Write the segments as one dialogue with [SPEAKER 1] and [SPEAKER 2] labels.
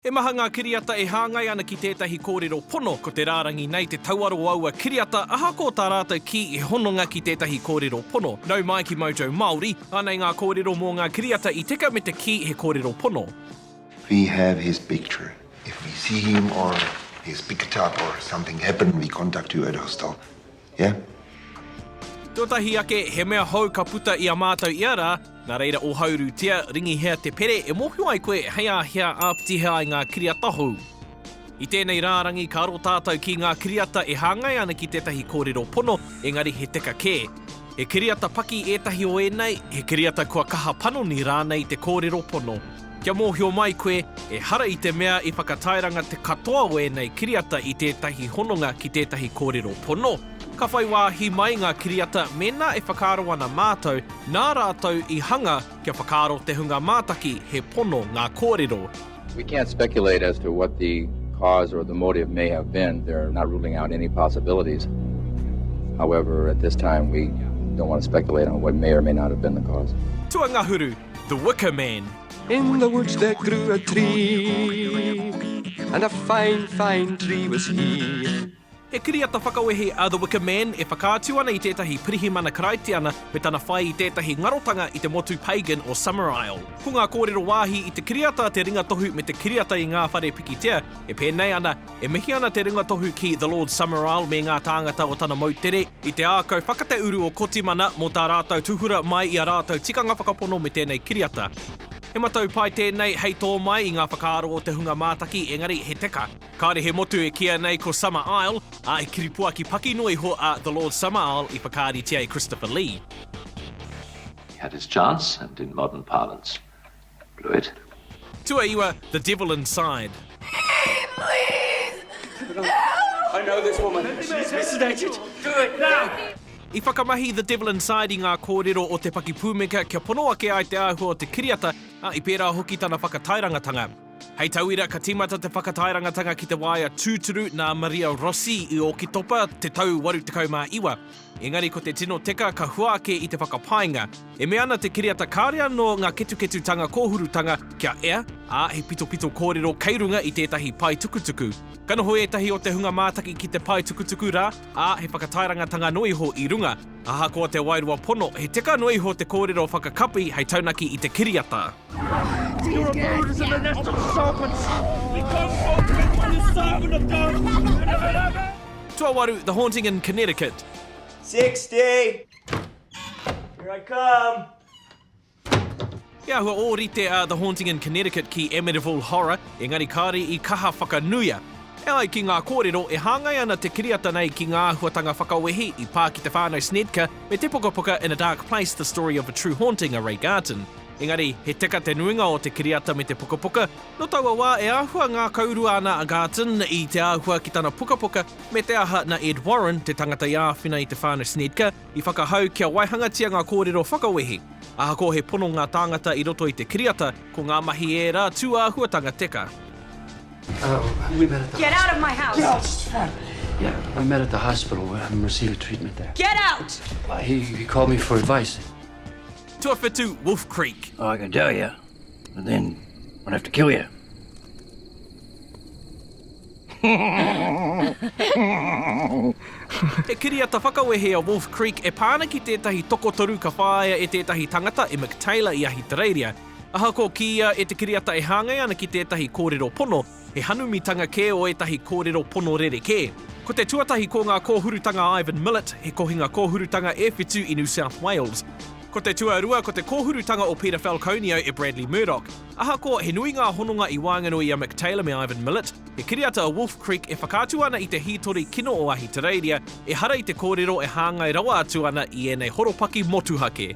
[SPEAKER 1] He maha ngā kiriata e hāngai ana ki tētahi kōrero pono, ko te rārangi nei te tauaro o aua kiriata, ahakoa tā rātou kī he hononga ki tētahi kōrero pono. Nau mai ki Mojo Māori, anei ngā kōrero mō ngā kiriata i teka me te kī he kōrero pono. If we
[SPEAKER 2] have his picture, if we see him or his picture or something happen we contact you at hostel. Yeah.
[SPEAKER 1] Tuatahi ake, he mea hou ka puta i a mātou ia rā, nā reira ōhaurutia, ringihia te pere e mōhio ai koe hei a hea āpitihia ai ngā kiriata hou. I tēnei rārangi ka aro tātou ki ngā kiriata e hāngai ana ki tētahi kōrero pono, engari he teka kē. He kiriata paki ētahi o ēnei, he kiriata kua kaha panoni rānei te kōrero pono. Kia mōhio mai koe, ehara i te mea i whakatairanga te katoa o ēnei kiriata i tētahi hononga ki tētahi kōrero pono. Ka whai wāhi mai ngā kiriata mēnā e whakaaro ana mātou nā rātou i hanga kia whakaaro te hunga mātaki he pono ngā kōrero. We can't
[SPEAKER 3] speculate as to what the cause or the motive may have been, they are not ruling out any possibilities. However, at this time we don't want to speculate on what may or may not have been the cause. Tuangahuru.
[SPEAKER 1] The Wicker Man. In the woods
[SPEAKER 4] there grew a tree And a fine, fine tree was he He kiriata
[SPEAKER 1] whakawehi a The Wicker Man e whakaatu ana i tētahi pirihimana Karaitiana me tana whai i tētahi ngarotanga i te motu pagan o Summerisle. Ko ngā kōrero wāhi i te kiriata te ringa tohu me te kiriata i ngā whare pikitia e pēnei ana E mihi ana te ringatohu ki The Lord Summerall me ngā tāngata o tana moutere i te ākau whakateuru o Kotimana mō tā rātou tūhura mai i a rātou tikanga whakapono me tēnei kiriata. He matau pai tēnei hei tō mai i ngā whakaaro o te hunga mātaki engari he teka. Kāore he motu e kīia nei ko Summer Isle, ā, he kiripuaki paki noa iho a The Lord Summerall i whakaaritia e Christopher Lee.
[SPEAKER 5] He had his chance and in modern parlance Good. Tuaiwa,
[SPEAKER 1] the devil inside.
[SPEAKER 6] I whakamahi
[SPEAKER 1] the devil inside i ngā kōrero o te pakipūmeka kia pono ake ai te āhua o te kiriata, ā, i pērā hoki tana whakatairangatanga. Hei tauira, ka tīmata te whakatairangatanga ki te waea tūturu nā Maria Rossi i Ōkitopa te tau 89. Engari ko te tino teka ka hua ake i te whakapaenga. E mea ana te kiriata kāore anō ngā ketuketutanga kōhurutanga kia ea, ā, he pitopito kōrero kei runga i tētahi paetukutuku. Ka noho ētahi o te hunga mātaki ki te paetukutuku rā, ā, he whakataerangatanga noa iho i runga. Ahakoa te wairua pono, he teka noa iho te kōrero whakakapi hei taunaki i te kiriata.
[SPEAKER 6] You're a Buddhist and that's the serpents. You come from the serpent of God. Tuawaru,
[SPEAKER 1] The Haunting in Connecticut. 60!
[SPEAKER 7] Here I come!
[SPEAKER 1] He ahua o rite a The Haunting in Connecticut ki Amityville Horror, engari kāore i kaha whakanuia. E ai ki ngā kōrero, e hāngai ana te kiriata nei ki ngā āhuatanga whakawehi i pā ki te whānau Snedker me te pukapuka In a Dark Place, The Story of a True Haunting a Ray Garton. Engari, he teka te nuinga o te kiriata me te pukapuka. Nō taua wā e āhua ngākaurua ana a Garton i te āhua ki tana pukapuka me te aha na Ed Warren, te tangata i āwhina i te whānau Snedker, i whakahau kia waihangatia ngā kōrero whakawehi. Ahakoa he pono ngā tāngata i roto i te kiriata, ko ngā mahi ērā tūāhuatanga teka. Get
[SPEAKER 8] out of my house! Get out! We
[SPEAKER 6] met
[SPEAKER 8] at the hospital and received treatment
[SPEAKER 6] there. Get out! He called
[SPEAKER 8] me for advice. Tuawhitu,
[SPEAKER 1] Wolf Creek. Oh, I can tell you,
[SPEAKER 8] but then I'd have to kill you.
[SPEAKER 1] He kiriata whakawehe a Wolf Creek e pā ana ki tētahi tokotoru ka whāia e tētahi tangata, e Mick Taylor i Ahitereiria. Ahakoa kīia e te kiriata e hāngai ana ki tētahi kōrero pono, He hanumitanga kē o ētahi kōrero pono rerekē. Ko te tuatahi ko ngā kōhurutanga a Ivan Millet, he kohinga kōhurutanga e whitu i New South Wales. Ko te tuarua ko te kōhurutanga o Peter Falconio e Bradley Murdoch. Ahakoa he nui ngā hononga i waenganui i a Mick Taylor me Ivan Millet, he kiriata a Wolf Creek e whakaatu ana i te hītori kino o Ahitereiria, ehara i te kōrero e hāngai rawa atu ana i ēnei horopaki motuhake.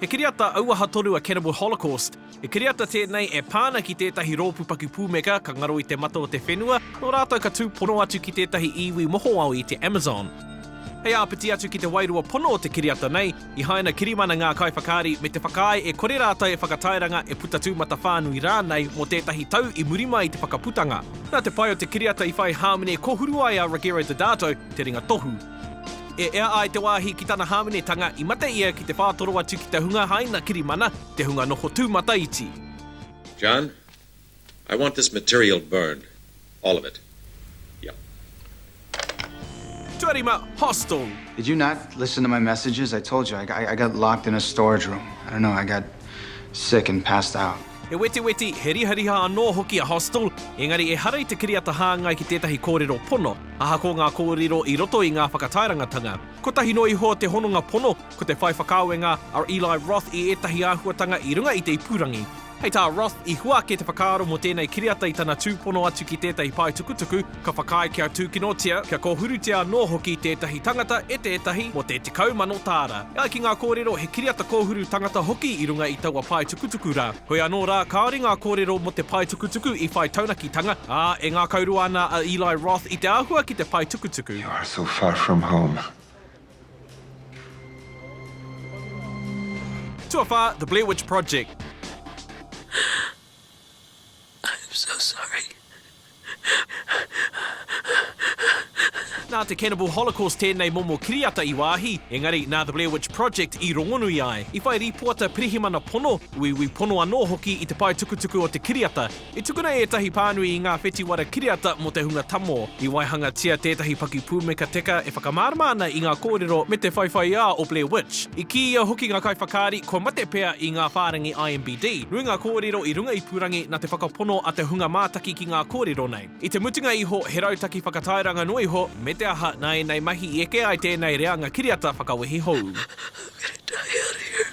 [SPEAKER 1] He kiriata auaha tonu a Cannibal Holocaust. He kiriata tēnei e pā ana ki tētahi rōpū paku pūmeka ka ngaro i te mata o te whenua, nō rātou ka tūpono atu ki tētahi iwi mohoao i te Amazon. Hei āpiti atu ki te wairua pono o te kiriata nei, i haina kirimana ngā kaiwhakaari me te whakaae e kore rātou e whakatairanga, e puta tūmata whānui rānei mō tētahi tau i muri mai i te whakaputanga. Nā te pai o te kiriata i whai hāmene kōhuru ai a Rogero Deodato, te ringa tohu. E ea ai te wāhi ki tana hāmenetanga, i mate ia ki te whātoro atu ki te hunga haina kirimana, te hunga noho tūmataiti. John,
[SPEAKER 9] I want this material burned, all of it. Yep.
[SPEAKER 1] Tuarima, Hostel. Did you not
[SPEAKER 10] listen to my messages? I told you, I got locked in a storage room. I don't know, I got sick and passed out. He wetiweti, he
[SPEAKER 1] rihariha anō hoki a Hostel, engari ehara i te kiriata hāngai ki tētahi kōrero pono, ahakoa ngā kōrero i roto i ngā whakataerangatanga. Kotahi noa iho te hononga pono, ko te whai whakaawenga a Eli Roth i ētahi āhuatanga i runga i te ipurangi. Hei tā Roth, i hua ake te whakaaro mō tēnei kiriata i tana tūpono atu ki tētahi paetukutuku, Ka whakaae kia tūkinotia, kia kōhurutia anō hoki tētahi tangata e tētahi mō te tekau mano tāra. E ai ki ngā kōrero, he kiriata kōhuru tangata hoki i runga i taua paetukutuku rā. Hoi anō rā, kāore ngā kōrero mō te paetukutuku i whai taunakitanga, ā, e ngākaurua ana a Eli Roth i te āhua ki te paetukutuku. You are so far from
[SPEAKER 2] home.
[SPEAKER 1] Tuawhā, The Blair Witch Project.
[SPEAKER 8] I'm so sorry.
[SPEAKER 1] Nā te Cannibal Holocaust tēnei momo kiriata i wāhi, engari nā The Blair Witch Project i rongonui ai. I whai rīpoata pirihimana pono, uiui pono anō hoki i te pae tukutuku o te kiriata. I tukuna ētahi pānui i ngā whetiwara kiriata mō te hunga tamō. I waihangatia tētahi pakipūmeka teka e whakamārama ana i ngā kōrero me te whaiwhaiā o Blair Witch. I kīia hoki ngā kaiwhakaari kua mate pea i ngā whārangi IMBD. Nui ngā kōrero i runga ipurangi nā te whakapono a te hunga mātaki ki ngā kōrero nei. I te mutunga iho, he rautaki whakatairanga noa iho, me te aha, nā ēnei mahi i eke ai tēnei reanga kiriata whakawehi hou. I'm
[SPEAKER 8] gonna die out here.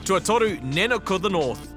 [SPEAKER 8] Tuatoru,
[SPEAKER 1] Nanook of the North.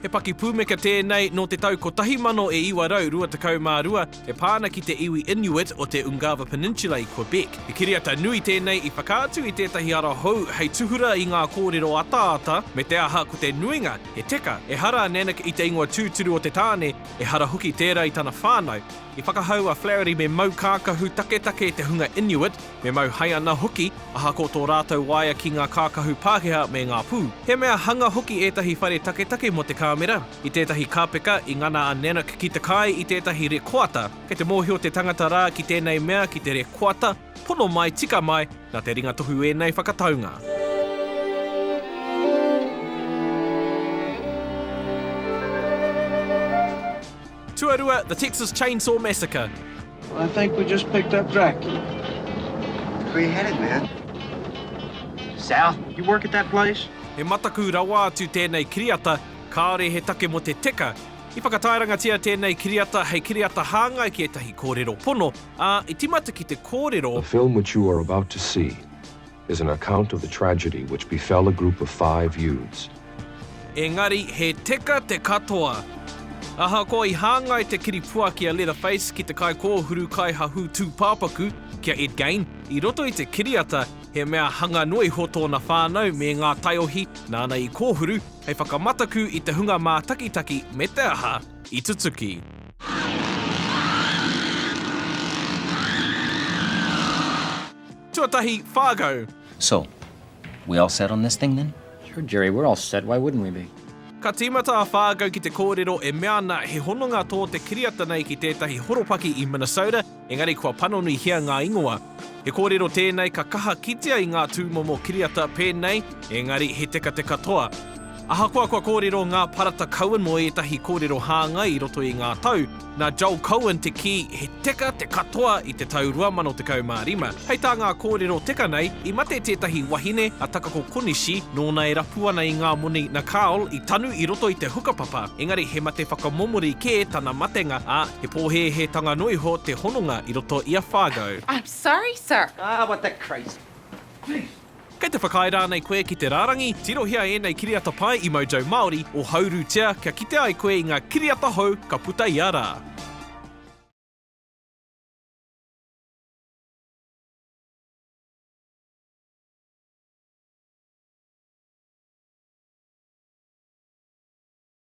[SPEAKER 1] He pakipūmeka tēnei nō te tau kotahi mano e iwa rau rua tekau mā rua, E pā ana ki te iwi Inuit o te Ungava Peninsula i Quebec. He kiriata nui tēnei i whakaatu i tētahi ara hou hei tūhura i ngā kōrero ataata me te aha ko te nuinga, he teka, ehara a Nanak i te ingoa tūturu o te tāne, ehara hoki tērā i tana whānau. I whakahau a Flaherty me mau kākahu taketake te hunga Inuit, Me mau hai ana hoki, ahakoa tō rātou waea ki ngā kākahu Pākehā me ngā pū. He mea hanga hoki ētahi whare taketake mō te kāmera, i tētahi kāpeka i ngana a Nanak ki te kai i tētahi rekoata. Kei te mōhio te tangata rā ki tēnei mea ki te rekoata, pono mai, tika mai, nā te ringa tohu ēnei whakataunga. Tuarua, The Texas Chainsaw Massacre. I think we
[SPEAKER 11] just picked up Dracula.
[SPEAKER 2] Where you headed, man?
[SPEAKER 11] South. You work at that place? He mataku rawa
[SPEAKER 1] atu tēnei kiriata, kāore he take mō te teka. I whakataerangatia tēnei kiriata hei kiriata hāngai ki ētahi kōrero pono, ā, i timata ki te kōrero. The film which you are
[SPEAKER 12] about to see is an account of the tragedy which befell a group of five youths. Engari,
[SPEAKER 1] he teka te katoa. Ahakoa i hāngai te kiripuaki a Leatherface ki te kaikōhuru kaihahū tūpāpaku, ki a Ed Gain, i roto i te kiriata, he mea hanga noa iho tōna whānau me ngā taiohi nāna i kōhuru hei whakamataku i te hunga mātakitaki me te aha i tutuki. Tuatahi, Fargo. So,
[SPEAKER 13] we all set on this thing then? Sure Jerry, we're all
[SPEAKER 14] set, why wouldn't we be? Ka tīmata a
[SPEAKER 1] Fargo ki te kōrero e mea ana he hononga tō te kiriata nei ki tētahi horopaki i Minnesota, engari kua panonuihia ngā ingoa. He kōrero tēnei ka kaha kitea i ngā tūmomo kiriata pēnei, engari he tekateka toa. Ahakoa kua kōrero ngā parata Cohen mō ētahi kōrero hāngai i roto i ngā tau, Nā Joel Cohen te kī, he teka te katoa i te tau 2015. Hei tā ngā kōrero teka nei, i mate tētahi wahine, a Takako Konishi, nōna e rapu ana i ngā moni na Carl i tanu i roto i te hukapapa, engari he mate whakamomori kē tana matenga, ā, he pōhēhētanga noa iho te hononga i roto i a Fargo. I'm sorry, sir.
[SPEAKER 15] Ah, what the crazy. Jeez.
[SPEAKER 11] Kei te whakaae
[SPEAKER 1] rānei koe ki te rārangi? Tirohia ēnei kiriata pai i Mojo Māori o Haurutia kia kite ai koe i ngā kiriata hou ka puta ia rā.